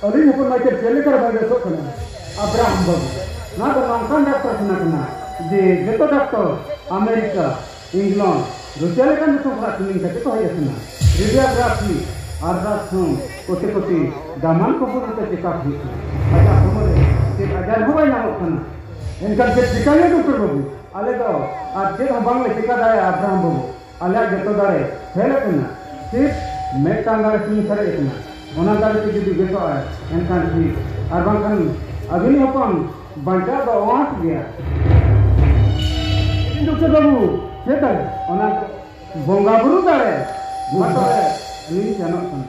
ᱟᱹᱞᱤᱧ ᱦᱚᱯᱚᱱ ᱢᱟᱭᱠᱮᱞ ᱪᱮᱫ ᱞᱮᱠᱟ ᱵᱟᱭ ᱵᱮᱥᱚᱜ ᱠᱟᱱᱟ ᱟᱵᱨᱟᱦᱟᱢ ᱵᱟᱹᱵᱩ ᱱᱚᱣᱟ ᱫᱚ ᱱᱚᱝᱠᱟᱱ ᱰᱟᱠᱛᱚᱨ ᱠᱷᱟᱱᱟ ᱠᱟᱱᱟ ᱡᱮ ᱡᱚᱛᱚ ᱰᱟᱠᱛᱚᱨ ᱟᱢᱮᱨᱤᱠᱟ ᱤᱝᱞᱚᱱᱰ ᱨᱩᱥᱤᱭᱟ ᱞᱮᱠᱟᱱ ᱫᱤᱥᱚᱢ ᱠᱷᱚᱱᱟᱜ ᱴᱨᱮᱱᱤᱝ ᱠᱟᱛᱮ ᱠᱚ ᱦᱮᱡ ᱟᱠᱟᱱᱟ ᱨᱮᱰᱤᱭᱳᱜᱨᱟᱯᱷᱤ ᱟᱞᱴᱨᱟᱥᱟᱣᱩᱱᱰ ᱠᱚᱛᱮ ᱠᱚᱛᱮ ᱫᱟᱢᱟᱱ ᱠᱚᱢᱯᱟᱱᱤ ᱛᱮ ᱪᱮᱠᱟᱯ ᱦᱩᱭᱩᱜ ᱠᱟᱱᱟ ᱟᱡᱟᱜ ᱦᱚᱲᱢᱚ ᱨᱮ ᱪᱮᱫ ᱟᱡᱟᱨ ᱦᱚᱸ ᱵᱟᱭ ᱧᱟᱢᱚᱜ ᱠᱟᱱᱟ ᱮᱱᱠᱷᱟᱱ ᱪᱮᱫ ᱪᱮᱠᱟᱭᱟ ᱰᱟᱠᱛᱚᱨ ᱵᱟᱹᱵᱩ ᱟᱞᱮ ᱫᱚ ᱟᱨ ᱪᱮᱫ ᱦᱚᱸ ᱵᱟᱝᱞᱮ ᱪᱮᱠᱟ ᱫᱟᱲᱮᱭᱟᱜᱼᱟ ᱟᱵᱨᱟᱦᱟᱢ ᱵᱟᱹᱵᱩ ᱟᱞᱮᱭᱟᱜ ᱡᱚᱛᱚ ᱫᱟᱲᱮ ᱯᱷᱮᱞ ᱟᱠᱟᱱᱟ ᱥᱤᱨᱯᱷ ᱢᱤᱫᱴᱟᱝ ᱫᱟᱲᱮ ᱥᱩᱢᱩᱝ ᱥᱟᱨᱮᱡ ᱟᱠᱟᱱᱟ ᱚᱱᱟ ᱫᱟᱲᱮ ᱛᱮ ᱡᱩᱫᱤ ᱵᱮᱥᱚᱜᱼᱟᱭ ᱮᱱᱠᱷᱟᱱ ᱴᱷᱤᱠ ᱟᱨ ᱵᱟᱝᱠᱷᱟᱱ ᱟᱹᱵᱤᱱᱤᱡ ᱦᱚᱯᱚᱱ ᱵᱟᱧᱪᱟᱣ ᱫᱚ ᱟᱸᱥ ᱜᱮᱭᱟ ᱰᱚᱠᱴᱚᱨ ᱵᱟᱹᱵᱩ ᱪᱮᱫ ᱫᱟᱲᱮ ᱚᱱᱟ ᱵᱚᱸᱜᱟ ᱵᱩᱨᱩ ᱫᱟᱲᱮ ᱢᱟ ᱛᱚᱵᱮ ᱟᱹᱞᱤᱧ ᱥᱮᱱᱚᱜ ᱠᱟᱱᱟ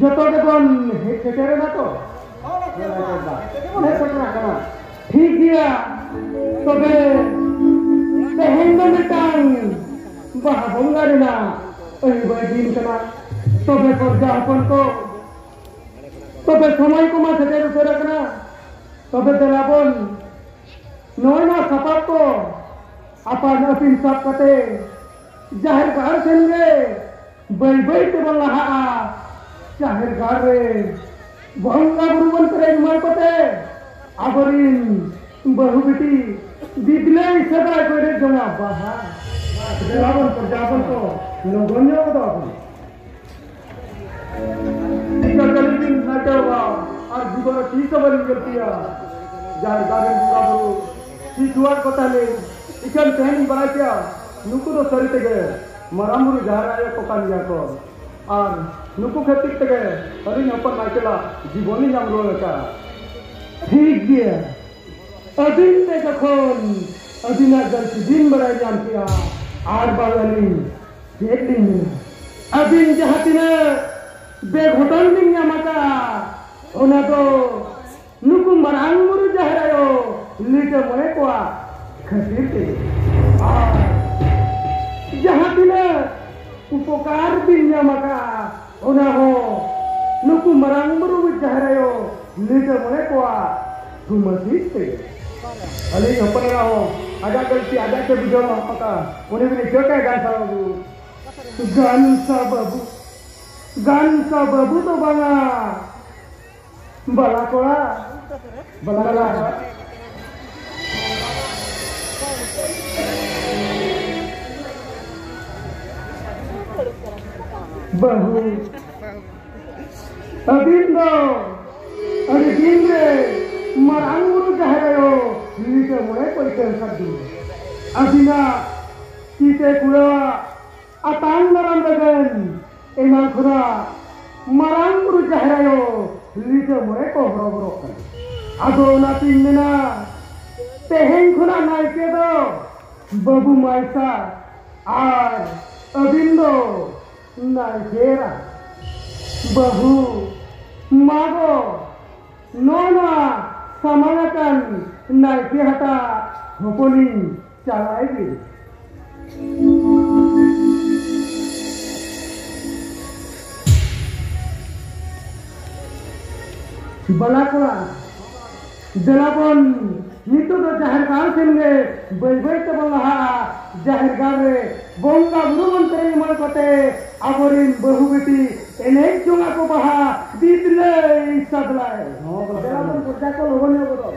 ᱡᱚᱛᱚ ᱜᱮᱵᱚᱱ ᱥᱮᱴᱮᱨ ᱮᱫᱟ ᱛᱚ ᱴᱷᱤᱠ ᱜᱮᱭᱟ ᱛᱚᱵᱮ ᱛᱮᱦᱮᱧ ᱫᱚ ᱢᱤᱫᱴᱟᱝ ᱵᱟᱦᱟ ᱵᱚᱸᱜᱟ ᱨᱮᱱᱟᱜ ᱟᱹᱭᱩᱵᱟᱹᱭ ᱫᱤᱱ ᱠᱟᱱᱟ ᱛᱚᱵᱮ ᱯᱚᱨᱡᱟ ᱦᱚᱯᱚᱱ ᱠᱚ ᱛᱚᱵᱮ ᱥᱚᱢᱚᱭ ᱠᱚᱢᱟ ᱥᱮᱴᱮᱨ ᱩᱛᱟᱹᱨ ᱟᱠᱟᱱᱟ ᱛᱚᱵᱮ ᱫᱮᱞᱟ ᱵᱚᱱ ᱱᱚᱜᱼᱚᱭ ᱱᱚᱣᱟ ᱥᱟᱯᱟᱵ ᱠᱚ ᱟᱯᱟᱱ ᱟᱹᱯᱤᱱ ᱥᱟᱵ ᱠᱟᱛᱮ ᱡᱟᱦᱮᱨ ᱜᱟᱲ ᱥᱮᱱ ᱨᱮ ᱵᱟᱹᱭ ᱵᱟᱹᱭ ᱛᱮᱵᱚᱱ ᱞᱟᱦᱟᱜᱼᱟ ᱡᱟᱦᱮᱨ ᱜᱟᱲ ᱨᱮ ᱵᱚᱸᱜᱟ ᱵᱩᱨᱩ ᱵᱚᱱ ᱯᱮᱨᱮᱡ ᱢᱟᱹᱭ ᱠᱚᱛᱮ ᱟᱵᱚᱨᱤᱱ ᱵᱟᱹᱦᱩ ᱵᱤᱴᱤ ᱫᱤᱫᱽᱞᱟᱹᱭ ᱥᱮᱫᱟᱭ ᱠᱚᱭ ᱨᱮ ᱡᱚᱝᱟ ᱵᱟᱦᱟ ᱫᱮᱞᱟ ᱵᱚᱱ ᱯᱨᱚᱡᱟ ᱵᱚᱱ ᱠᱚ ᱞᱚᱜᱚᱱ ᱧᱚᱜ ᱠᱚᱫᱚ ᱟᱵᱚᱱ ᱴᱤᱠᱟ ᱠᱟᱹᱞᱤ ᱫᱤᱱ ᱱᱟᱴᱟᱣᱟ ᱟᱨ ᱡᱩᱜᱚᱨ ᱴᱤᱠᱟ ᱵᱟᱹᱧ ᱜᱟᱹᱞᱛᱤᱭᱟ ᱡᱟᱦᱮᱨ ᱜᱟᱲ ᱨᱮᱱ ᱵᱚᱸᱜᱟ ᱵᱩᱨᱩ ᱴᱤᱠᱩᱣᱟᱜ ᱠᱚ ᱛᱟᱦᱮᱸ ᱞᱮᱱ ᱤᱠᱷᱟᱹᱱ ᱛᱮᱦᱮᱧ ᱵᱟᱲᱟᱭ ᱠᱮᱭᱟ ᱱᱩᱠᱩ ᱫᱚ ᱥᱟᱹᱨᱤ ᱛᱮᱜᱮ ᱢᱟᱨᱟᱝ ᱵᱩᱨᱩ ᱡᱟᱦᱮᱨ ᱟᱭᱳ ᱠᱚ ᱠᱟᱱ ᱜᱮᱭᱟ ᱠᱚ ᱟᱨ ᱱᱩᱠᱩ ᱠᱷᱟᱹᱛᱤᱨ ᱛᱮᱜᱮ ᱟᱹᱞᱤᱧ ᱦᱚᱯᱚᱱ ᱢᱟᱭᱠᱮᱞᱟᱜ ᱡᱤᱵᱚᱱ ᱞᱤᱧ ᱧᱟᱢ ᱨᱩᱣᱟᱹᱲ ᱟᱠᱟᱫᱼᱟ ᱴᱷᱤᱠ ᱜᱮᱭᱟ ᱟᱹᱵᱤᱱ ᱛᱮ ᱡᱚᱠᱷᱚᱱ ᱟᱹᱵᱤᱱᱟᱜ ᱜᱟᱹᱞᱛᱤ ᱵᱤᱱ ᱵᱟᱲᱟᱭ ᱧᱟᱢ ᱠᱮᱫᱼᱟ ᱟᱨ ᱵᱟᱝ ᱟᱹᱞᱤᱧ ᱪᱮᱫ ᱞᱤᱧ ᱢᱮᱱᱟ ᱟᱹᱵᱤᱱ ᱡᱟᱦᱟᱸ ᱛᱤᱱᱟᱹᱜ ᱵᱮᱜᱷᱚᱴᱚᱱ ᱵᱤᱱ ᱧᱟᱢ ᱟᱠᱟᱫᱼᱟ ᱚᱱᱟ ᱫᱚ ᱱᱩᱠᱩ ᱢᱟᱨᱟᱝ ᱵᱩᱨᱩ ᱡᱟᱦᱮᱨ ᱟᱭᱳ ᱞᱤᱴᱟᱹ ᱢᱚᱬᱮ ᱠᱚᱣᱟᱜ ᱠᱷᱟᱹᱛᱤᱨ ᱛᱮ ᱟᱨ ᱡᱟᱦᱟᱸ ᱛᱤᱱᱟᱹᱜ ᱩᱯᱚᱠᱟᱨ ᱵᱤᱱ ᱧᱟᱢ ᱟᱠᱟᱫᱼᱟ ᱚᱱᱟ ᱦᱚᱸ ᱱᱩᱠᱩ ᱢᱟᱨᱟᱝ ᱵᱩᱨᱩ ᱡᱟᱦᱮᱨ ᱟᱭᱳ ᱞᱤᱴᱟᱹ ᱢᱚᱬᱮ ᱠᱚᱣᱟᱜ ᱛᱩᱢᱟᱹᱥᱤᱥ ᱛᱮ ᱟᱹᱞᱤᱧ ᱦᱚᱯᱚᱱ ᱮᱨᱟ ᱦᱚᱸ ᱟᱡᱟᱜ ᱜᱟᱹᱞᱛᱤ ᱟᱡᱟᱜ ᱜᱮ ᱵᱩᱡᱷᱟᱹᱣ ᱢᱟ ᱯᱟᱛᱟ ᱩᱱᱤ ᱵᱤᱱ ᱤᱠᱟᱹ ᱠᱟᱭ ᱜᱟᱱ ᱥᱟᱵ ᱟᱹᱜᱩ ᱜᱟᱱ ᱥᱟᱵ ᱟᱹᱜᱩ ᱜᱟᱱ ᱥᱟᱵ ᱟᱹᱜᱩ ᱫᱚ ᱵᱟᱝᱟ ᱵᱟᱞᱟ ᱠᱚᱲᱟ ᱵᱟᱞᱟ ᱠᱚᱲᱟ ᱵᱟᱹᱦᱩ ᱟᱹᱵᱤᱱ ᱫᱚ ᱟᱹᱰᱤ ᱫᱤᱱ ᱨᱮ ᱢᱟᱨᱟᱝ ᱵᱩᱨᱩ ᱡᱟᱦᱮᱨ ᱟᱭᱳ ᱱᱤᱛᱚᱜ ᱢᱚᱬᱮ ᱠᱚᱭ ᱠᱟᱹᱢ ᱠᱟᱫ ᱵᱤᱱ ᱟᱹᱵᱤᱱᱟᱜ ᱛᱤᱛᱮ ᱠᱩᱲᱟᱹᱣᱟᱜ ᱟᱛᱟᱝ ᱫᱟᱨᱟᱢ ᱞᱟᱹᱜᱤᱫ ᱮᱢᱟᱱ ᱠᱷᱚᱱᱟᱜ ᱢᱟᱨᱟᱝ ᱵᱩᱨᱩ ᱡᱟᱦᱮᱨ ᱟᱭᱳ ᱞᱤᱴᱟᱹ ᱢᱚᱬᱮ ᱠᱚ ᱦᱚᱨᱚᱵᱚᱨᱚᱜ ᱠᱟᱱᱟ ᱟᱫᱚ ᱚᱱᱟᱛᱤᱧ ᱢᱮᱱᱟ ᱛᱮᱦᱮᱧ ᱠᱷᱚᱱᱟᱜ ᱱᱟᱭᱠᱮ ᱫᱚ ᱵᱟᱹᱵᱩ ᱢᱟᱭᱥᱟ ᱟᱨ ᱟᱹᱵᱤᱱ ᱫᱚ ᱱᱟᱭᱠᱮᱨᱟ ᱵᱟᱹᱦᱩ ᱢᱟᱜᱚ ᱱᱚᱜᱼᱚ ᱱᱚᱣᱟ ᱥᱟᱢᱟᱝ ᱟᱠᱟᱱ ᱱᱟᱭᱠᱮ ᱦᱟᱴᱟᱜ ᱦᱚᱯᱚᱱᱤᱧ Chào là ấy gì? Balakura, Jalapon, ᱱᱤᱛᱚᱜ ᱫᱚ ᱡᱟᱦᱮᱨ ᱜᱟᱲ ᱥᱮᱱ ᱜᱮ ᱵᱟᱹᱭ ᱵᱟᱹᱭ ᱛᱮᱵᱚᱱ ᱞᱟᱦᱟᱜᱼᱟ ᱡᱟᱦᱮᱨ ᱜᱟᱲ ᱨᱮ ᱵᱚᱸᱜᱟ ᱵᱩᱨᱩ ᱵᱚᱱ ᱥᱮᱨᱮᱧ ᱮᱢᱟᱱ ᱠᱟᱛᱮ ᱟᱵᱚᱨᱮᱱ ᱵᱟᱹᱦᱩ ᱵᱤᱴᱤ ᱮᱱᱮᱡ ᱡᱚᱝ ᱟᱠᱚ ᱵᱟᱦᱟ ᱫᱤᱫᱞᱟᱹᱭ ᱥᱟᱫᱞᱟᱭ ᱫᱮᱞᱟ ᱵᱚᱱ ᱯᱚᱨᱡᱟ ᱠᱚ ᱞᱚᱜᱚᱱ ᱧᱚᱜ ᱜᱚᱫᱚᱜ